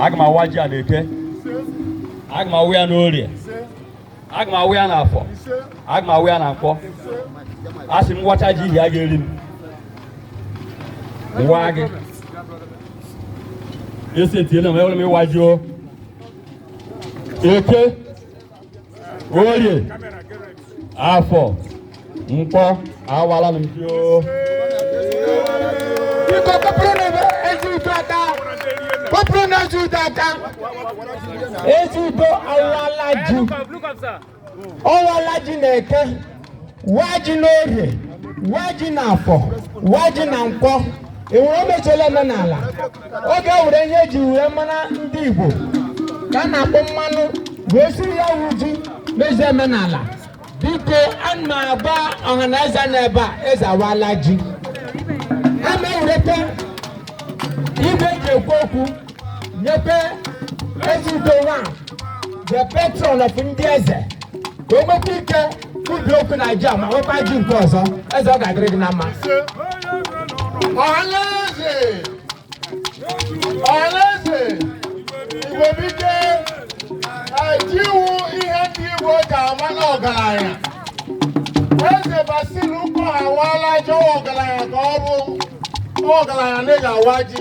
aga m awa ji a n'eke aga m awa ya n'orie aga m awa ya n'afọ aga m awa ya na nkwọ a sị m wacha ji ihe a ga-eri m nwa gị esi etiela m ewere m ịwa ji o eke orie afọ nkwọ awala m ji o biko kụpụrụnụ eze udo aka kụpụrụnụ eze udo aka eze udo awala ji ọ wala ji n'eke waa ji n'orie waa ji na afọ waa ji na nkwọ enwere omechela omenala ọ ga-ewere ihe eji wee mara ndị igbo ka a na-akpọ mmanụ wee suru ya wee ji mezie omenala biko ana m agwa ọha na eze na ebe a eze awala ji ana m ewereta igwe eji ekwu okwu nyekwe eze udo nwa the patron of ndị eze ka o nwekwa ike kwubi okwu na ji ma nwekwa ji nke ọzọ eze ọ ga-adịrị gị na mma ọhaneze ọhaneze igbo biko ji wụ ihe ndị igbo ga-ama na ọgaranya eze basil ụkọ awala ji ọ wụ ọgaranya ka ọ bụ ọgaranya na ị ga-awa ji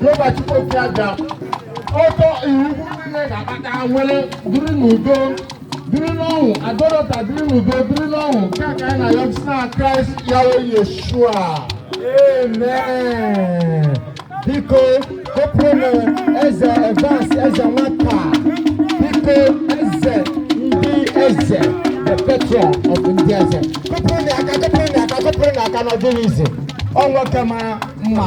Jehova Chukwu okike abịa ọtọ Erukwu niile ga-akpata nwere dịrị n'udo dịrị n'ọṅụ Ado-Odo Ota dịrị n'udo dịrị n'ọṅụ nke a ka anyị na-ayọ si na Kraịst Yahweh Yeshua amen biko kụpụrụ eze Evans eze nwata biko eze ndị eze the patron of ndị eze kụpụrụnụ aka kụpụrụnụ aka kụpụrụnụ aka na ọ dịghị easy o nwoke mara mma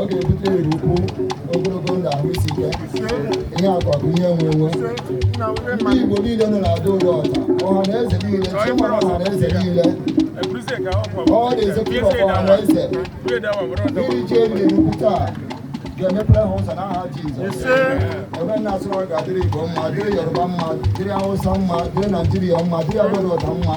ọ ga-ebute Erukwu ogologo ndụ ahụ isi ike ihe akụ akụ ihe enwe enwe ndị Igbo niile nọ na Ado-Odo Ota ọha na eze niile chairman ọha na eze niile all the executive ọha na eze iri ji eriri Erukwu taa ga-emepere ha ụzọ n'aha Jizọs ebe m na-asụrụ ọ ga-adịrị Igbo mma dịrị Yoruba mma dịrị Hausa mma dịrị Naijiria mma dịrị Ado-Odo Ota mma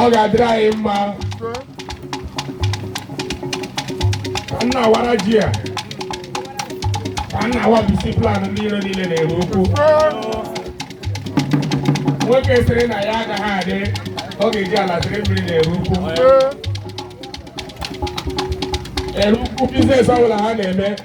ọ ga-adịrị anyị mma ka m na-awara ji a ka m na-awabisi plan ndị iro niile n'Erukwu nwoke sịrị na ya agaghị adị ọ ga-eji ala sịrị mmiri n'Erukwu Erukwu biznes ọbụla ha na-eme